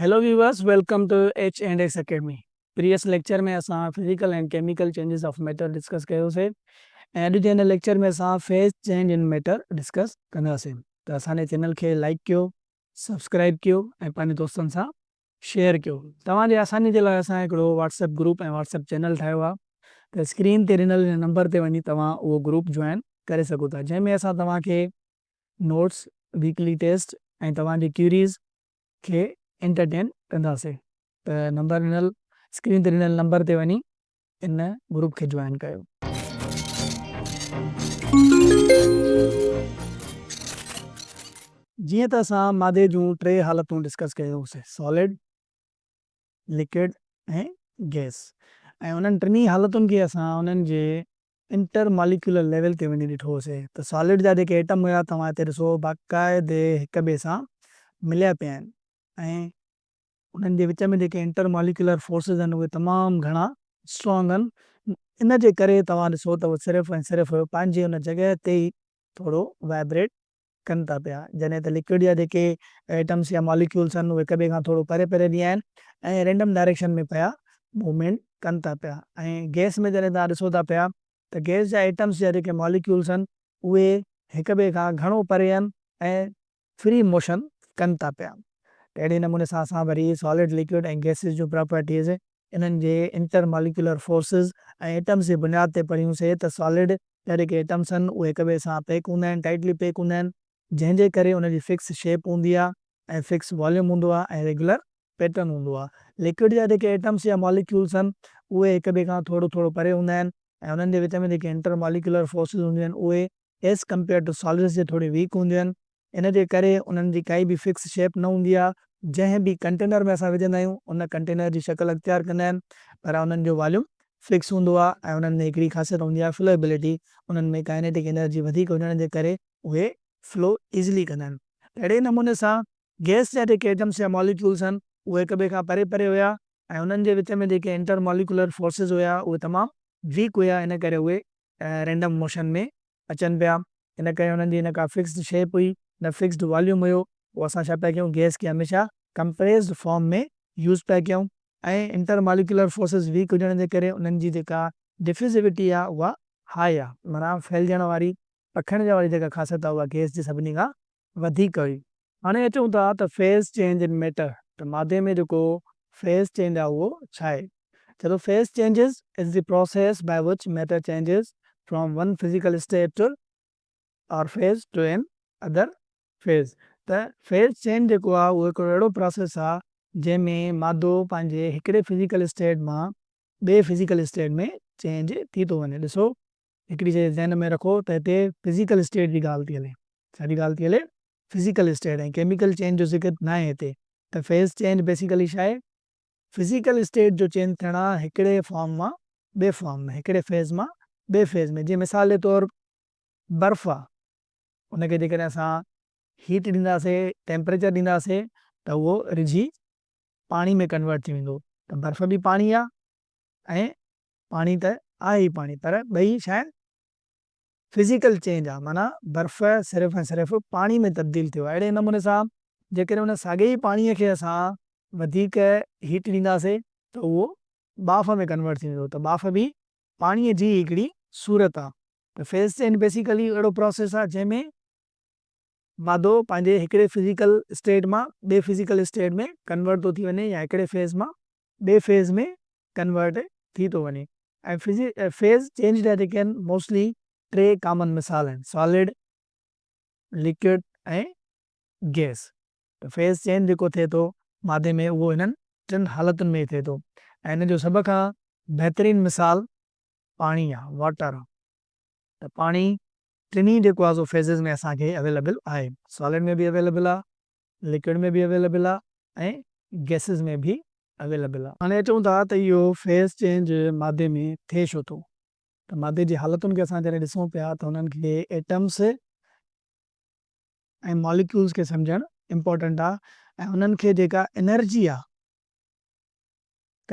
Hello viewers welcome to H and S academy previous lecture ۾ اسان physical and chemical changes of matter discuss ڪيو سي ۽ اڄ جي هن ليڪچر ۾ اسان phase change in matter discuss ڪنداسين ته اسان جي چينل کي لائڪ ڪيو سبسڪرائب ڪيو ۽ پنهنجي دوستن سان شيئر ڪيو توهان جي آساني جي لاء اسان هڪڙو WhatsApp group ۽ WhatsApp channel ٺاهيو آهي ته اسڪرين تي ڏنل هن نمبر تي وڃي توهان اهو گروپ جوائن ڪري سگهو ٿا جنهن ۾ اسان توهان کي نوٽس ويڪلي ٽيسٽ ۽ توهان جي ڪيوريز کي انٽرٽين ڪنداسي ته نمبر ڏنل اسڪرين تي ڏنل نمبر تي وڃي ان گروپ کي جوائن ڪيو. جيئن ته اسان مادي جون ٽي حالتون ڊسڪس ڪيون سي سالڊ، لڪوڊ ۽ گئس ۽ انهن ٽنهي حالتن کي اسان انهن جي انٽر ماليڪيولر ليول تي وڃي ڏٺو هوسي ته سالڊ جا جيڪي ايٽم هيا توهان هتي ڏسو باقاعدي هڪ ٻئي سان مليا پيا آهن ۽ انهن جي وچ ۾ جيڪي انٽر ماليڪيولر فورسز آهن اهي تمام گهڻا اسٽرانگ آهن ان جي ڪري توهان ڏسو ته هو صرف ۽ صرف پنهنجي ان جڳهه تي ئي ٿورو وائبريٽ ڪن ٿا پيا، جڏهن ته لڪوئڊ جا جيڪي ايٽمس يا ماليڪيولس آهن اهي هڪ ٻئي کان ٿورو پري پري به آهن ۽ رينڊم ڊائريڪشن ۾ پيا موومينٽ ڪن ٿا پيا ۽ گئس ۾ جڏهن توهان ڏسو ٿا پيا ته گئس جا ايٽمس يا جيڪي ماليڪيولس آهن اهي هڪ ٻئي کان گهڻو پري آهن ۽ فري موشن ڪن ٿا پيا ته اهڙي نموني سان اسان وري سالڊ، لڪوئڊ ۽ گئسز جون پراپرٽيز انهن جي انٽر ماليڪيولر فورسز ۽ ايٽمز جي بنياد تي پڙهيون سي ته سالڊ جهڙي ڪي ايٽمز هن اهي هڪ ٻئي سان پيڪ هوندا آهن، ٽائيٽلي پيڪ هوندا آهن، جنهن جي ڪري ان جي فڪس شيپ هوندي آهي ۽ فڪس واليوم هوندو آهي ۽ ريگيولر پيٽرن هوندو آهي. ليڪوڊ جا جيڪي ايٽمز يا ماليڪيولز هن اهي هڪ ٻئي کان ٿورو ٿورو پري هوندا آهن ۽ انهن جي وچ ۾ جيڪي انٽر ماليڪيولر فورسز هونديون آهن اهي ايز ڪمپيئرڊ ٽو سالڊز جي ٿوري ويڪ هونديون آهن ان جي ڪري انهن جي ڪائي به فڪس شيپ نه هوندي آهي، جنهن به ڪنٽينر ۾ اسان وجهندا آهيون ان ڪنٽينر جي شڪل اختيار ڪندا آهن پر انهن جو واليوم فڪس هوندو آهي ۽ انهن ۾ هڪڙي خاصيت هوندي آهي فلوئبلٽي انهن ۾ ڪائنيٽڪ انرجي وڌيڪ هجڻ جي ڪري اهي فلو ايزلي ڪندا آهن ته اهڙي نموني سان گئس جا جيڪي ايٽمس يا ماليڪيولس هن اهي هڪ ٻئي کان پري پري هيا ۽ انهن جي وچ ۾ جيڪي انٽر ماليڪيولر فورسز هيا اهي تمام ويڪ هيا ان ڪري اهي رينڊم موشن ۾ اچن پيا ان ڪري انهن جي نه ڪا فڪسڊ شيپ هئي نه فڪسڊ واليوم هيو پوء اسان ڇا پيا ڪيون گيس کي هميشه ڪمپريسڊ فارم ۾ يوز پيا ڪيون ۽ انٽر ماليڪيولر فورسز ويڪ هجڻ جي ڪري انهن جي جيڪا ڊفيوزيوٽي آ اها هاء آ معنيٰ ڦهلجڻ واري پکڙجڻ واري جيڪا خاصيت آ اها گيس جي سڀني کان وڌيڪ هئي. هاڻي اچون ٿا ته فيز چينج ان ميٽر ته مادي ۾ جيڪو فيز چينج آهي اهو ڇاهي؟ چئي ٿو phase changes is the process by which matter changes from one physical state to or phase to another phase ته فيز چينج جيڪو آهي اهو هڪڙو اهڙو پراسيس آهي جنهن ۾ مادو پنهنجي هڪڙي فزيڪل اسٽيٽ مان ٻئي فزيڪل اسٽيٽ ۾ چينج ٿي ٿو وڃي ڏسو هڪڙي شئي ذهن ۾ رکو ته هتي فزيڪل اسٽيٽ جي ڳالهه ٿي هلي. ڇا جي ڳالهه ٿي هلي؟ فزيڪل اسٽيٽ ۽ ڪيميڪل چينج جو ذڪر ناهي هتي. ته فيز چينج بيسيڪلي ڇا آهي؟ فزيڪل اسٽيٽ جو چينج ٿيڻ آهي هڪڙي فارم مان ٻئي فارم ۾، هڪڙي فيز مان ٻئي فيز ۾. جيئن مثال جي طور برف آهي، ان کي جيڪڏهن اسان هيٽ ڏينداسين، ٽيمپريچر ڏينداسين ته اهو رجهي پاڻي ۾ ڪنورٽ ٿي ويندو. ته برف به پاڻي آهي ۽ پاڻي ته آهي ئي پاڻي پر ٻئي شيء Physical Change آ معنيٰ برف صرف ۽ صرف پاڻي ۾ تبديل ٿيو آهي اهڙي نموني سان جيڪڏهن ان ساڳئي ئي پاڻي کي اسان وڌيڪ Heat ڏينداسين ته اهو ٻاڦ ۾ Convert ٿي ويندو ته ٻاڦ به پاڻي جي ئي هڪڙي صورت آ ته Phase Change Basically اهڙو Process آ جنهن ۾ مادو پنهنجي هڪڙي Physical State مان ٻئي Physical State ۾ Convert ٿو ٿي وڃي يا هڪڙي Phase مان ٻئي فيز ۾ ڪنورٽ ٿي ٿو وڃي ۽ فيز چينج ٿيا جيڪي آهن موسٽلي ٽي ڪامن مثال آهن سالڊ، ليڪوڊ ۽ گيس ته فيز چينج جيڪو ٿئي ٿو مادي ۾ اهو هنن ٽن حالتن ۾ ئي ٿئي ٿو ۽ هن جو سڀ کان بهترين مثال پاڻي آهي واٽر آهي ته پاڻي ٽنهي جيڪو آهي سو فيزز ۾ اسان کي اويليبل آهي سالڊ ۾ به اويليبل آهي لڪوڊ ۾ به اويليبل آهي ۽ گئسز ۾ به اويليبل آهي. هاڻي اچون ٿا ته اهو فيز چينج مادي ۾ ٿئي ڇو ٿو ته مادي جي حالتن کي اسان جڏهن ڏسون پيا ته انهن کي ايٽمز ۽ ماليڪيولز کي سمجهڻ امپارٽنٽ آهي ۽ انهن کي جيڪا انرجي آهي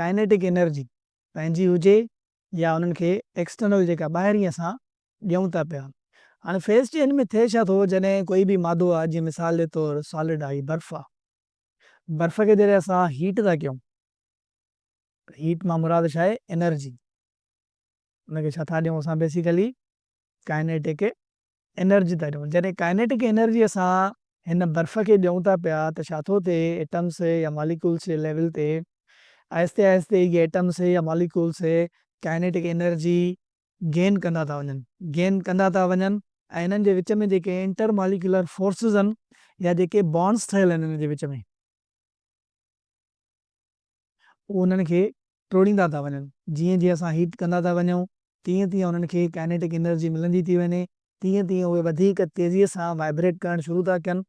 ڪائنيٽڪ انرجي پنهنجي هجي يا انهن کي ايڪسٽرنل جيڪا ٻاهرين اسان ڏيون ٿا پيا. هاڻي فيز چينج ۾ ٿئي ڇا ٿو جڏهن ڪوئي به مادو آهي جيئن مثال جي طور سالڊ آهي برف آهي برف کي جڏهن اسان هيٽ ٿا ڪيون ته هيٽ مان مراد ڇا آهي انرجي ان کي ڇا ٿا ڏيون اسان بيسيڪلي ڪائنيٽڪ انرجي ٿا ڏيون. جڏهن ڪائنيٽڪ انرجي اسان هن برف کي ڏيون ٿا پيا ته ڇا ٿو ٿئي ايٽمس يا ماليڪولس جي ليول تي آهستي آهستي اهي ايٽمس يا ماليڪولس ڪائنيٽڪ انرجي گين ڪندا ٿا وڃن گين ڪندا ٿا وڃن ۽ انهن جي وچ ۾ جيڪي انٽر ماليڪيولر فورسز آهن يا جيڪي بانڊس ٺهيل آهن انهن جي وچ ۾. هو انهن کي ٽوڙيندا ٿا وڃن. جيئن جيئن اسان هيٽ ڪندا ٿا وڃون تيئن تيئن انهن کي ڪائنيٽڪ انرجي ملندي ٿي وڃي تيئن تيئن اهي وڌيڪ تيزيء سان وائبريٽ ڪرڻ شروع ٿا ڪن.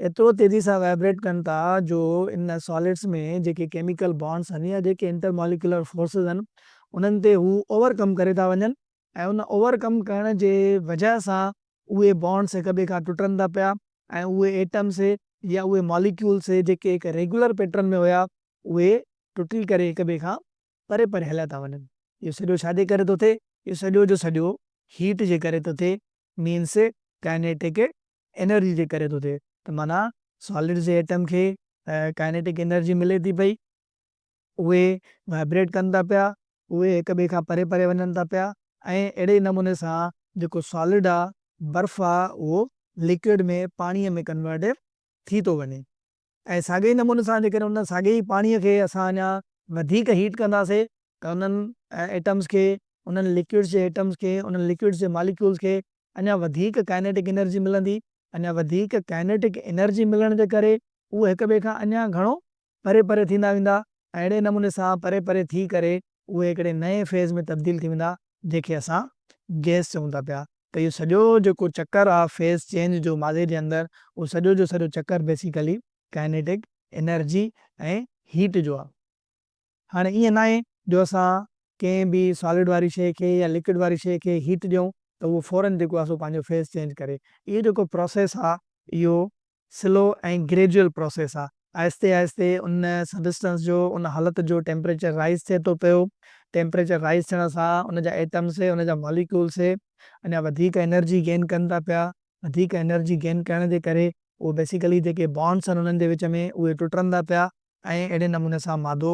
ايترو تيزي سان وائبريٽ ڪن ٿا جو ان ساليڊس ۾ جيڪي ڪيميڪل بانڊز آهن يا جيڪي انٽر ماليڪيولر فورسز آهن انهن تي هو اوور ڪم ڪري ٿا وڃن ۽ ان اوور ڪم ڪرڻ جي وجهه سان اهي بانڊس هڪ ٻئي کان ٽٽن ٿا پيا ۽ اهي ايٽمس يا اهي ماليڪيولس جيڪي هڪ ريگيولر پيٽرن ۾ هيا اهي ٽٽي ڪري هڪ ٻئي کان پري پري هليا ٿا وڃن. اهو سڄو ڇاجي ڪري ٿو ٿئي؟ اهو سڄو جو سڄو هيٽ جي ڪري ٿو ٿئي مينس ڪائنيٽڪ انرجي جي ڪري ٿو ٿئي ته معنيٰ سالڊ جي ايٽم کي ڪائنيٽڪ انرجي ملي ٿي پئي. اهي وائبريٽ ڪن ٿا پيا، اهي هڪ ٻئي کان پري پري وڃن ٿا پيا ۽ اهڙي ئي نموني سان جيڪو سالڊ آ، برف آ، اهو ليڪوئڊ ۾ پاڻيء ۾ ڪنورٽ ٿي ٿو وڃي ۽ ساڳئي ئي نموني سان جيڪڏهن ان ساڳئي ئي پاڻيء کي اسان اڃا وڌيڪ هيٽ ڪنداسي ته انهن ايٽمز کي، انهن ليڪوئڊز جي ايٽمز کي، انهن ليڪوئڊز جي ماليڪيولز کي اڃا وڌيڪ ڪائنيٽڪ انرجي ملندي، اڃا وڌيڪ ڪائنيٽڪ انرجي ملڻ جي ڪري اهي هڪ ٻئي کان اڃا گهڻو پري پري ٿيندا ويندا ۽ اهڙي نموني سان پري پري ٿي ڪري اهي هڪڙي نئين فيز ۾ تبديل ٿي ويندا جنهن کي اسان گئس چئون ٿا پيا ته اهو سڄو جيڪو چڪر آ فيز چينج جو مادي جي اندر اهو سڄو جو سڄو چڪر بيسيڪلي ڪائنيٽڪ انرجي ۽ هيٽ جو آ. هاڻي ائين ناهي جو اسان ڪنهن به سالڊ واري شيء کي يا لڪوڊ واري شيء کي هيٽ ڏيون ته اهو فورن جيڪو آ سو پنهنجو فيز چينج ڪري اهو جيڪو پراسيس آ اهو سلو ۽ گريجوئل پروسيس آ. آهستي آهستي ان سبسٽنس جو، ان حالت جو ٽيمپريچر رائيز ٿئي ٿو پيو. ٽيمپريچر رائيز ٿيڻ سان ان جا ايٽمس، ان جا ماليڪيولس اڃا وڌيڪ انرجي گين ڪن ٿا پيا. وڌيڪ انرجي گين ڪرڻ جي ڪري اهي بيسيڪلي جيڪي بانڊس آهن انهن جي وچ ۾ اهي ٽٽن ٿا پيا ۽ اهڙي نموني سان مادو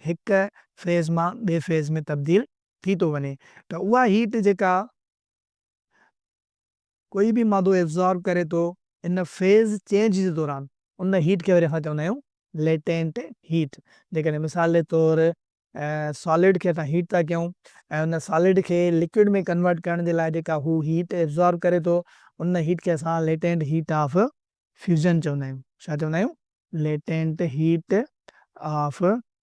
هڪ فيز مان ٻئي فيز ۾ تبديل ٿي ٿو وڃي ته اها هيٽ جيڪا ڪوئي به مادو ابزارب ڪري ٿو ان فيز چينج جي دوران ان هيٽ کي وري اسان چوندا آهيون ليٽينٽ هيٽ جيڪڏهن مثال جي طور سالڊ کي اسان هيٽ ٿا ڪيون ۽ ان سالڊ کي لڪوڊ ۾ ڪنورٽ ڪرڻ جي لاء جيڪا هو هيٽ ابزارب ڪري ٿو ان هيٽ کي اسان ليٽينٽ هيٽ آف فيوزن چوندا آهيون ڇا چوندا آهيون ليٽينٽ هيٽ آف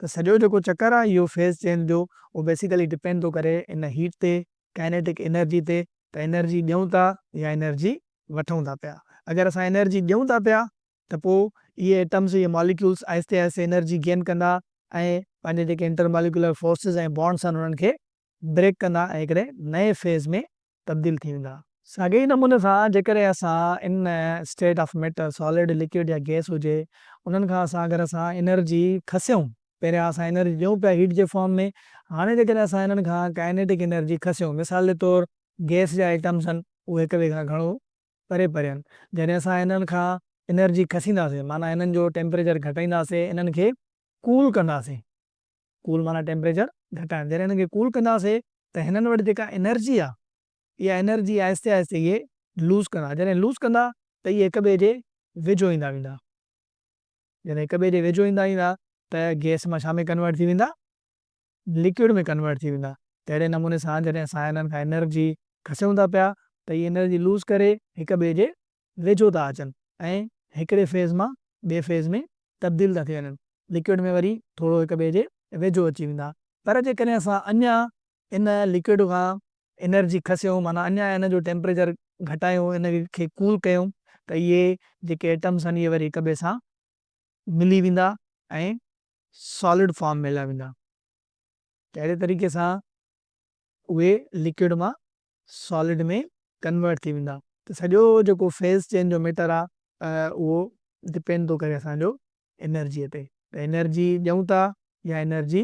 ته سڄو جيڪو چڪر آ اهو فيز چينج جو اهو بيسيڪلي ڊپينڊ ٿو ڪري ان هيٽ تي، ڪائنيٽڪ انرجي تي ته انرجي ڏيون ٿا يا انرجي وٺون ٿا پيا. اگر اسان انرجي ڏيون ٿا پيا ته پوء اهي ايٽمز اهي ماليڪيولز آهستي آهستي انرجي گين ڪندا ۽ پنهنجي جيڪي انٽر ماليڪيولر فورسز ۽ بانڊز آهن انهن کي بريڪ ڪندا ۽ هڪڙي نئين فيز ۾ تبديل ٿي ويندا. ساڳئي ئي نموني سان جيڪڏهن اسان ان state of matter, solid, liquid يا گيس هجي، انهن کان اسان اگر اسان انرجي کسيون، پهريان اسان انرجي ڏيون پيا هيٽ جي فارم ۾، هاڻي جيڪڏهن اسان انهن کان ڪائنيٽڪ انرجي کسيون، مثال جي طور گيس جا ايٽمز هن اهي هڪ ٻئي کان گهڻو پري پري هن، جڏهن اسان انهن کان انرجي کسينداسين معنيٰ انهن جو ٽيمپريچر گهٽائينداسين، انهن کي ڪول ڪنداسين. ڪول معنيٰ ٽيمپريچر گهٽائڻ جڏهن هنن کي ڪول ڪنداسي ته هنن وٽ جيڪا انرجي آ اها انرجي آهستي آهستي اهي لوز ڪندا جڏهن لوز ڪندا ته اهي هڪ ٻئي جي ويجهو ايندا ويندا جڏهن هڪ ٻئي جي ويجهو ايندا ويندا ته گئس مان ڇا ۾ ڪنورٽ ٿي ويندا لڪوئڊ ۾ ڪنورٽ ٿي ويندا ته اهڙي نموني سان جڏهن اسان هنن کان انرجي کسيون ٿا پيا ته اهي انرجي لوز ڪري هڪ ٻئي جي ويجهو ٿا اچن ۽ هڪڙي فيز مان ٻئي فيز ۾ تبديل ٿا ٿي وڃن لڪوئڊ ۾ وري ٿورو هڪ ٻئي جي ويجهو اچي ويندا پر جيڪڏهن اسان اڃا ان لڪوئڊ کان انرجي کسيون معنيٰ اڃا ان جو ٽيمپريچر گهٽايون ان کي ڪول ڪيون ته اهي جيڪي ايٽمس آهن اهي وري هڪ ٻئي سان ملي ويندا ۽ سالڊ فارم ۾ هليا ويندا ته اهڙي طريقي سان اهي لڪوئڊ مان سالڊ ۾ ڪنورٽ ٿي ويندا ته سڄو جيڪو فيز چينج جو ميٽر آ اهو ڊپينڊ ٿو ڪري اسان جو انرجي تي ته انرجي ڏيون ٿا يا انرجي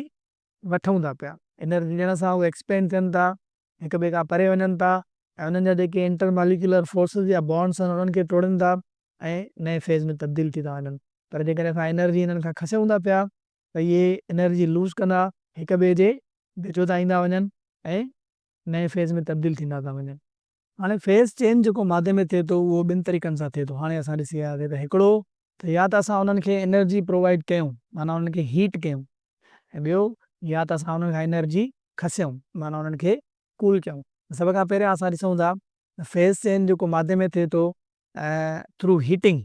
وٺون ٿا پيا انرجي ڏيڻ سان اهي ايڪسپينڊ ٿين ٿا هڪ ٻئي کان پري وڃن ٿا ۽ انهن جا جيڪي انٽر ماليڪيولر فورسز يا بانڊز آهن انهن کي ٽوڙين ٿا ۽ نئين فيز ۾ تبديل ٿي ٿا وڃن پر جيڪڏهن اسان انرجي انهن کان کسيون ٿا پيا ته اهي انرجي لوز ڪندا هڪ ٻئي جي ويجهو ٿا ايندا وڃن ۽ نئين فيز ۾ تبديل ٿيندا ٿا وڃن. هاڻي فيز چينج جيڪو مادي ۾ ٿئي ٿو اهو ٻن طريقن سان ٿئي ٿو. هاڻي اسان ڏسي آياسين ته هڪڙو ته يا ته اسان انهن کي انرجي پرووائيڊ ڪيون معنيٰ انهن کي هيٽ ڪيون ۽ ٻيو يا ته اسان انهن کان انرجي کسيون معنيٰ انهن کي ڪول ڪيون. سڀ کان پهريان اسان ڏسون ٿا ته فيز چينج جيڪو مادي ۾ ٿئي ٿو ٿرو هيٽنگ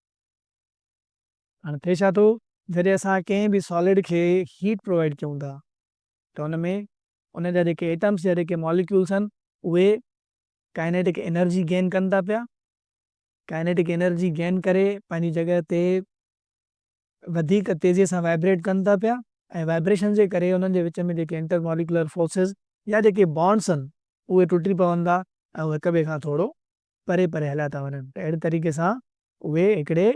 هاڻ ٿئي ڇا ٿو جڏهن اسان ڪنهن به سالڊ کي هيٽ پرووائيڊ ڪيون ٿا ته ان ۾ ان جا جيڪي ايٽمس يا جيڪي ماليڪيولس آهن اهي ڪائنيٽڪ انرجي گين ڪن ٿا پيا ڪائنيٽڪ انرجي گين ڪري پنهنجي جڳهه تي وڌيڪ تيزي سان وائبريٽ ڪن ٿا پيا ۽ وائبريشن جي ڪري انهن جي وچ ۾ جيڪي انٽر ماليڪيولر فورسز يا جيڪي بانڊس آهن اهي ٽٽي پون ٿا ۽ اهي هڪ ٻئي کان ٿورو پري پري هليا ٿا وڃن ته اهڙي طريقي سان اهي هڪڙي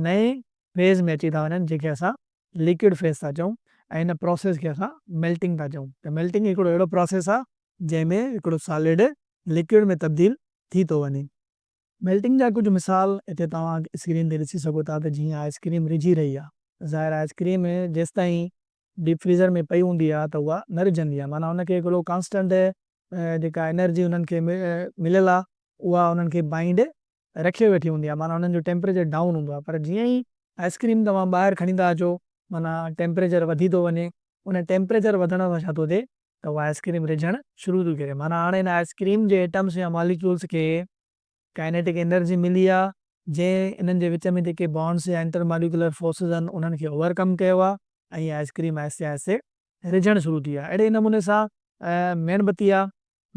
نئين فيز ۾ اچي ٿا وڃن جنهن کي اسان ليڪوڊ فيز ٿا چئون ۽ ان پراسيس کي اسان ميلٽنگ ٿا چئون ته ميلٽنگ هڪڙو اهڙو پراسيس آهي جنهن ۾ هڪڙو سالڊ ليڪوڊ ۾ تبديل ٿي ٿو وڃي. ميلٽنگ جا ڪجهه مثال هتي توهان اسڪرين تي ڏسي سگهو ٿا ته جيئن آئس ڪريم رجهي رهي آهي ظاهر آئس ڪريم جيستائين ڊيپ فريزر ۾ پئي هوندي آهي ته اها نه رجهندي آهي معنيٰ ان کي هڪڙو ڪانسٽنٽ جيڪا انرجي انهن کي مليل آهي اها انهن کي بائنڊ رکي ويٺي هوندي آهي معنيٰ انهن جو ٽيمپريچر ڊائون هوندو آهي پر جيئن ئي آئس ڪريم توهان ٻاهر کڻي ٿا اچو معنيٰ ٽيمپريچر وڌي ٿو وڃي ان ٽيمپريچر وڌڻ سان ڇا ٿو ٿئي ته اها آئس ڪريم رجهڻ شروع ٿي ڪري معنيٰ هاڻي ان آئس ڪريم جي ايٽمس يا ماليڪيولس کي ڪائنيٽڪ انرجي ملي آ جنهن انهن جي وچ ۾ جيڪي بانڊز يا انٽر ماليڪيولر فورسز آهن انهن کي اوور ڪم ڪيو آ ۽ اها آئس ڪريم آهستي آهستي رجهڻ شروع ٿي آ اهڙي ئي نموني سان ميڻ بتي آ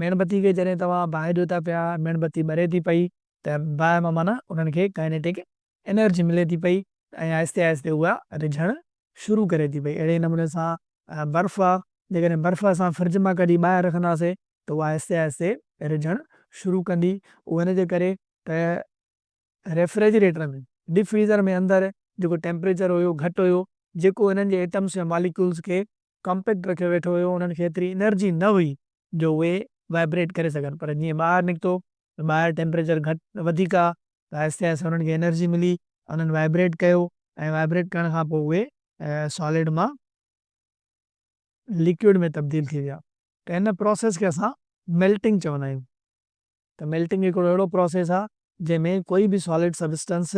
ميڻ بتي کي جڏهن توهان باهه ڏيو ٿا پيا ميڻ بتي ٻري ٿي پئي ته باهه مان معنيٰ انهن کي ڪائنيٽڪ انرجي ملي ٿي پئي ۽ آهستي آهستي اها رجهڻ شروع ڪري ٿي پئي اهڙي نموني سان برف آهي جيڪڏهن برف اسان فرج مان ڪڍي ٻاهر رکنداسين ته اها آهستي آهستي رجهڻ شروع ڪندي اهو ان جي ڪري ته ريفريجريٽر ۾ ڊيپ فريزر ۾ اندر جيڪو ٽيمپريچر هيو گهٽ هيو جيڪو انهن جي ايٽمس يا ماليڪيولز کي ڪمپيڪٽ رکيو ويٺو هيو انهن کي ايتري انرجي نه هئي جو اهي وائبريٽ ڪري سگهن پر جيئن ٻاهر نڪتو ته ٻاهر ٽيمپريچر گهٽ وڌيڪ آهي ته آهستي آهستي انهن کي انرجي ملي انهن وائبريٽ ڪيو ۽ وائبريٽ ڪرڻ کان پوء اهي سالڊ مان ليڪوڊ ۾ تبديل ٿي ويا ته ان پروسيس کي اسان ميلٽنگ چوندا آهيون ته ميلٽنگ هڪڙو اهڙو پروسيس آهي جنهن ۾ ڪوئي به سالڊ سبسٽنس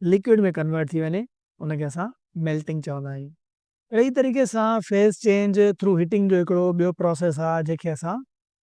ليڪوڊ ۾ ڪنورٽ ٿي وڃي ان کي اسان ميلٽنگ چوندا آهيون. اهڙي ئي طريقي سان فيز چينج ٿرو هيٽنگ جو هڪڙو ٻيو پروسيس آهي جنهن کي اسان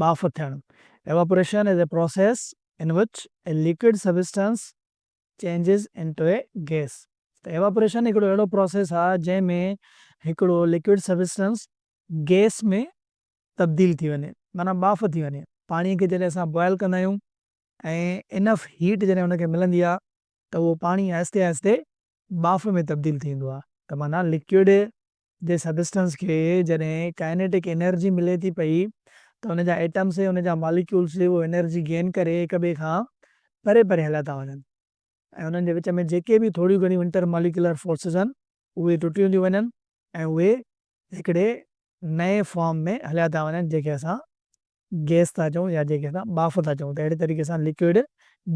ٻاڦ ٿيڻ، Evaporation is a process in which a liquid substance changes into a gas، ته Evaporation هڪڙو اهڙو پراسيس آهي جنهن ۾ هڪڙو لڪوئڊ سبسٽنس گئس ۾ تبديل ٿي وڃي معنيٰ ٻاڦ ٿي وڃي، پاڻي کي جڏهن اسان بوائل ڪندا آهيون ۽ انف هيٽ جڏهن ان کي ملندي آهي ته اهو پاڻي آهستي آهستي ٻاڦ ۾ تبديل ٿي ويندو آهي ته معنيٰ لڪوئڊ جي سبسٽنس کي جڏهن ڪائنيٽڪ انرجي ملي ٿي پئي ته ان جا ايٽمس ۽ ان جا ماليڪيولس به اهو انرجي گين ڪري هڪ ٻئي کان پري پري هليا ٿا وڃن ۽ انهن جي وچ ۾ جيڪي به ٿوريون گهڻيون انٽر ماليڪيولر فورسز آهن اهي ٽٽيون ٿيون وڃن ۽ اهي هڪڙي نئين فارم ۾ هليا ٿا وڃن جنهن کي اسان گئس ٿا چئون يا جنهن کي اسان ٻاڦ ٿا چئون ته اهڙي طريقي سان لڪوئڊ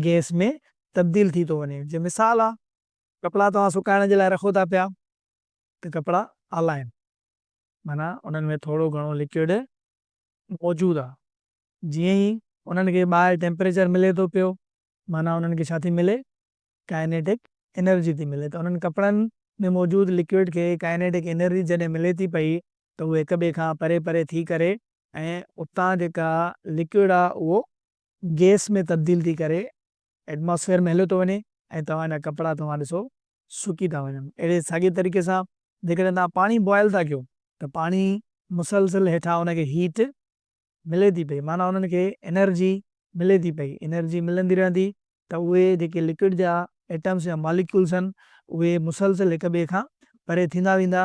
گئس ۾ تبديل ٿي ٿو وڃي جي مثال آهي ڪپڙا توهان سڪائڻ جي لاء رکو ٿا پيا ته ڪپڙا آلا آهن، معنيٰ انهن ۾ ٿورو گهڻو لڪوئڊ موجود آهي. جيئن ئي انهن کي ٻاهر ٽيمپريچر ملي ٿو پيو، معنيٰ انهن کي ڇا ٿي ملي؟ ڪائنيٽڪ انرجي ٿي ملي. ته انهن ڪپڙن ۾ موجود لڪوئڊ کي ڪائنيٽڪ انرجي جڏهن ملي ٿي پئي ته اهي هڪ ٻئي کان پري پري ٿي ڪري ۽ اتان جيڪا لڪوئڊ آهي اهو گيس ۾ تبديل ٿي ڪري ائٽماسفيئر ۾ هليو ٿو وڃي ۽ توهان جا ڪپڙا توهان ڏسو سڪي ٿا وڃن اهڙي ساڳي طريقي سان جيڪڏهن توهان پاڻي بوائل ٿا ڪيو ته پاڻي مسلسل هيٺان ان کي هيٽ ملي ٿي پئي معنيٰ انهن کي انرجي ملي ٿي پئي انرجي ملندي رهندي ته اهي جيڪي لڪوڊ جا ائٽمس يا ماليڪيولس آهن اهي مسلسل هڪ ٻئي کان پري ٿيندا ويندا.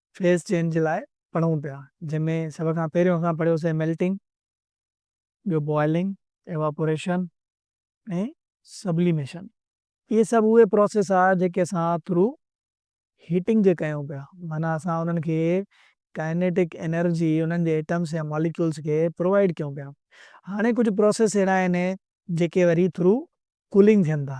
فيز چينج جي لاء پڙهون پيا جنهن ۾ سڀ کان پهريون اسان پڙهيوسين ميلٽنگ، ٻيو بوائلنگ، ايواپوريشن ۽ سبليميشن. اهي سڀ اهي پروسيس آ جيڪي اسان ٿرو هيٽنگ جي ڪيون پيا معنيٰ اسان انهن کي ڪائنيٽڪ انرجي انهن جي ايٽمس يا ماليڪيولز کي پرووائيڊ ڪيون پيا. هاڻي ڪجهه پروسيس اهڙا آهن جيڪي وري ٿرو ڪولنگ ٿين ٿا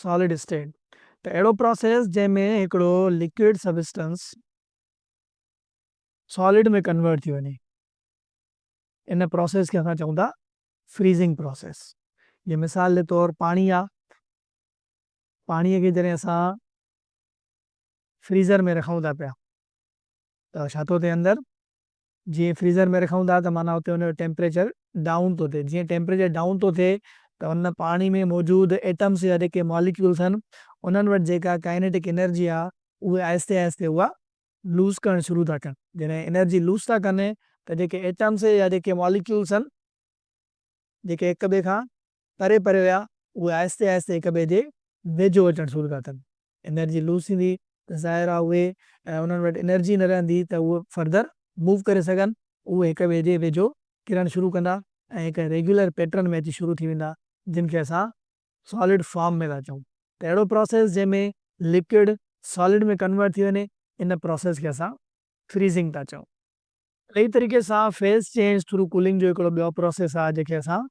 سالڊ اسٽيٽ ته اهڙو پراسيس جنهن ۾ هڪڙو لڪوئڊ سبسٽنس سالڊ ۾ ڪنورٽ ٿي وڃي ان پراسيس کي اسان چئون ٿا فريزنگ پراسيس جيئن مثال جي طور پاڻي آ پاڻي کي جڏهن اسان فريزر ۾ رکون ٿا پيا ته ڇا ٿو ٿئي اندر جيئن فريزر ۾ رکون ٿا ته معنيٰ اتي ان جو ٽيمپريچر ڊائون ٿو ٿئي جيئن ٽيمپريچر ڊائون ٿو ٿئي ته ان پاڻي ۾ موجود ايٽمس يا جيڪي ماليڪيولس آهن انهن وٽ جيڪا ڪائنيٽڪ انرجي آهي اهي آهستي آهستي اها لوز ڪرڻ شروع ٿا ڪن جڏهن انرجي لوز ٿا ڪن ته جيڪي ايٽمس يا جيڪي ماليڪيولس آهن جيڪي هڪ ٻئي کان پري پري ويا، اهي آهستي آهستي هڪ ٻئي جي ويجهو اچڻ شروع ٿا ڪن. انرجي لوس ٿيندي ته ظاهر آهي اهي انهن وٽ انرجي نه رهندي ته اهي فردر موو ڪري سگهن، اهي هڪ ٻئي جي ويجهو ڪرڻ شروع ڪندا ۽ هڪ ريگيولر پيٽرن ۾ اچي شروع ٿي ويندا جن کي اسان سالڊ فارم ۾ ٿا چئون ته اهڙو پراسيس جنهن ۾ لڪوڊ سالڊ ۾ ڪنورٽ ٿي وڃي ان پراسيس کي اسان فريزنگ ٿا چئون. اهڙي ئي طريقي سان فيز چينج ٿرو ڪولنگ جو هڪڙو ٻيو پراسيس آهي جنهن کي اسان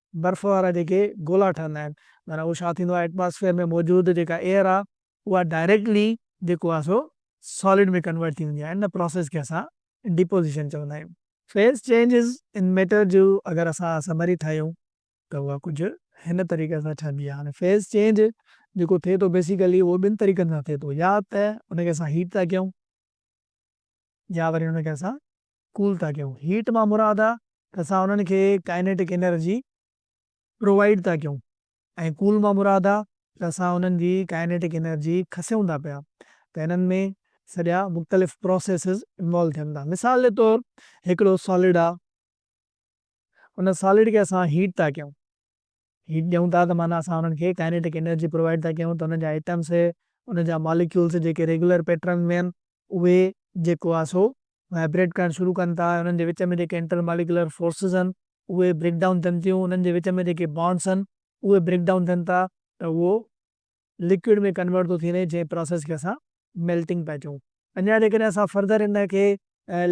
برف وارا جيڪي گولا ٺهندا آهن معنيٰ اهو ڇا ٿيندو آهي ائٽماسفيئر ۾ موجود جيڪا ايئر آهي اها ڊائريڪٽلي جيڪو آهي سو سالڊ ۾ ڪنورٽ ٿي ويندي آهي ان پراسيس کي اسان ڊيپوزيشن چوندا آهيون. فيز چينجز ان ميٽر جو اگر اسان سمري ٺاهيون ته اها ڪجهه هن طريقي سان ٺهندي آهي هاڻي فيز چينج جيڪو ٿئي ٿو بيسيڪلي اهو ٻن طريقن سان ٿئي ٿو يا ته ان کي اسان هيٽ ٿا ڪيون يا وري ان کي اسان ڪول ٿا ڪيون. هيٽ مان مراد آ ته اسان انهن کي ڪائنيٽڪ انرجي پرووائيڊ ٿا ڪيون ۽ ڪول مان مراد آ ته اسان انهن جي ڪائنيٽڪ انرجي کسيون ٿا پيا ته انهن ۾ سڄا مختلف پروسيسز انوالو ٿين ٿا. مثال جي طور هڪڙو سالڊ آ ان سالڊ کي اسان هيٽ ٿا ڪيون. هيٽ ڏيون ٿا ته معنيٰ اسان انهن کي ڪائنيٽڪ انرجي پرووائيڊ ٿا ڪيون ته انهن جا ايٽمس انهن جا ماليڪيولس جيڪي ريگيولر پيٽرن ۾ آهن اهي جيڪو آهي سو وائبريٽ ڪرڻ شروع ڪن ٿا انهن جي وچ ۾ جيڪي انٽر ماليڪيولر فورسز آهن اهي بريڪ ڊائون ٿين ٿيون انهن جي وچ ۾ جيڪي بانڊس آهن اهي بريڪ ڊائون ٿين ٿا ته اهو لڪوئڊ ۾ ڪنورٽ ٿو ٿي وڃي جنهن پراسيس کي اسان ميلٽنگ پيا چئون. اڃا جيڪڏهن اسان فردر ان کي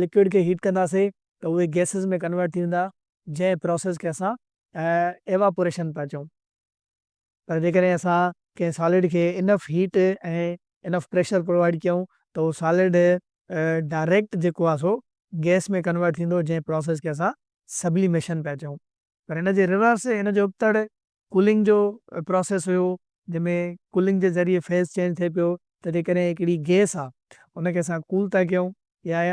لڪوئڊ کي هيٽ ڪنداسين ته اهي گيسز ۾ ڪنورٽ ٿي ويندا جنهن پراسيس کي اسان ايواپوريشن پيا چئون. پر جيڪڏهن اسان ڪنهن سالڊ کي enough heat ۽ enough pressure provide ڪيون ته اهو سالڊ ڊائريڪٽ جيڪو آهي سو گيس ۾ ڪنورٽ ٿيندو جنهن پراسيس کي اسان سبليميشن پيا چئون. پر ان جي ريورس ان جو ابتڙ ڪولنگ جو پراسيس هيو جنهن ۾ ڪولنگ جي ذريعي فيز چينج ٿئي پيو ته جيڪڏهن هڪڙي گيس آ ان کي اسان ڪول ٿا ڪيون يا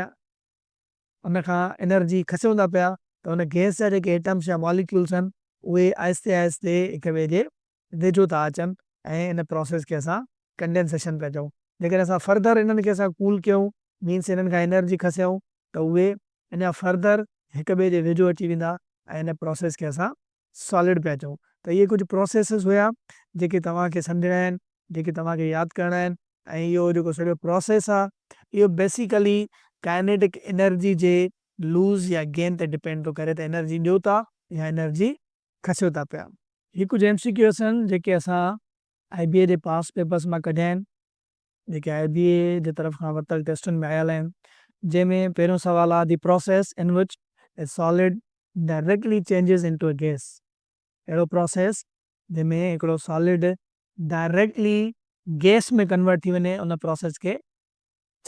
ان کان انرجي کسيون ٿا پيا ته ان گيس جا جيڪي ايٽمس يا ماليڪيولس آهن اهي آهستي آهستي هڪ ٻئي جي ويجهو ٿا اچن ۽ ان پراسيس کي اسان ڪنڊينسيشن پيا چئون جيڪڏهن اسان فرڌر انهن کي اسان ڪول ڪيون مينس انهن کان انرجي کسيون ته اهي اڃا فرڌر هڪ ٻئي جي ويجهو اچي ويندا ۽ ان پراسيس کي اسان سالڊ پيا چئون ته اهي ڪجهه پروسيسز هيا جيڪي توهان کي سمجهڻا آهن جيڪي توهان کي ياد ڪرڻا آهن ۽ اهو جيڪو سڄو پروسيس آهي اهو بيسيڪلي ڪائنيٽڪ انرجي جي لوز يا گين تي ڊپينڊ ٿو ڪري ته انرجي ڏيو ٿا يا انرجي کسيو ٿا پيا. هي ڪجهه ايم سي ڪيوز آهن جيڪي اسان آئي بي اي جي پاسٽ پيپرز مان ڪڍيا آهن. جيڪي آء بي اي جي طرف کان ورتل ٽيسٽن ۾ آيل آهن جنهن ۾ پهريون سوال آهي The process in which a solid directly changes into a gas اهڙو پروسيس جنهن ۾ هڪڙو سالڊ ڊائريڪٽلي گيس ۾ ڪنورٽ ٿي وڃي ان پروسيس کي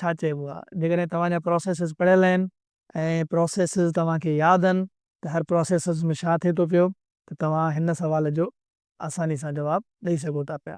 ڇا چئبو آهي جيڪڏهن توهان جا پروسيسز پڙهيل آهن ۽ پروسيسز توهان کي ياد آهن ته هر پروسيسز ۾ ڇا ٿئي ٿو پيو ته توهان هن سوال جو آساني سان جواب ڏئي سگهو ٿا پيا.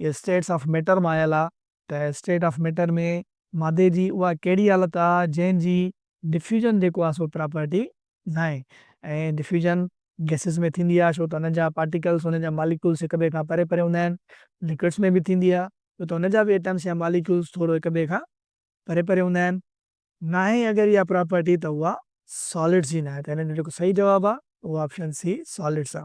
اهي اسٽيٽس آف ميٽر مان آيل آ ته اسٽيٽ آف ميٽر ۾ مادي جي اها ڪهڙي حالت آ جنهن جي ڊفيوجن جيڪو آ سو پراپرٽي ناهي ۽ ڊفيوجن گئسز ۾ ٿيندي آ ڇو ته انهن جا پارٽيڪلز انهن جا ماليڪولز هڪ ٻئي کان پري پري هوندا آهن لڪوڊس ۾ به ٿيندي آ ڇو ته انهن جا به ايٽمز يا ماليڪولز ٿورو هڪ ٻئي کان پري پري هوندا آهن. ناهي اگر اها پراپرٽي ته اها سالڊس جي ناهي ته هن جو جيڪو صحيح جواب آ اهو آپشن سي سالڊس آ.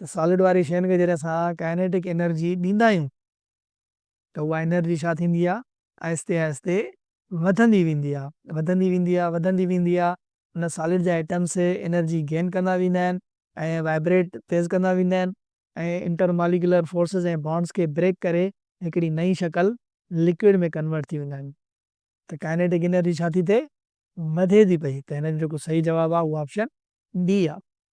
ته سالڊ واري شين کي جڏهن اسان ڪائنيٽڪ انرجي ڏيندا آهيون ته اها انرجي ڇا ٿيندي آهي آهستي آهستي وڌندي ويندي آهي وڌندي ويندي آهي وڌندي ويندي آهي ان سالڊ جا ايٽمس انرجي گين ڪندا ويندا آهن ۽ وائبريٽ تيز ڪندا ويندا آهن ۽ انٽر ماليڪيولر فورسز ۽ بانڊز کي بريڪ ڪري هڪڙي نئين شڪل لڪوئڊ ۾ ڪنورٽ ٿي ويندا آهن ته ڪائنيٽڪ انرجي ڇا ٿي ٿئي وڌي ٿي پئي ته هن جو جيڪو صحيح جواب آهي اهو آپشن ڊي آهي.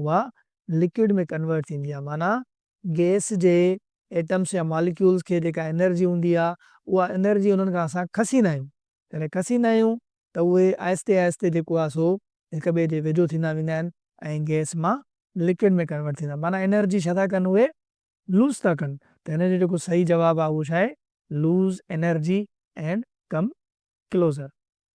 اها لڪوڊ ۾ ڪنورٽ ٿيندي آهي معنيٰ گئس جي ايٽمس يا ماليڪيولز کي جيڪا انرجي هوندي آهي اها انرجي انهن کان اسان کسيندا آهيون جڏهن کسيندا آهيون ته اهي آهستي آهستي جيڪو آهي سو هڪ ٻئي جي ويجهو ٿيندا ويندا آهن ۽ گئس مان لڪوڊ ۾ ڪنورٽ ٿيندا معنيٰ انرجي ڇا ٿا ڪن اهي لوز ٿا ڪن ته هن جو جيڪو صحيح جواب آهي اهو ڇا آهي lose energy and come closure.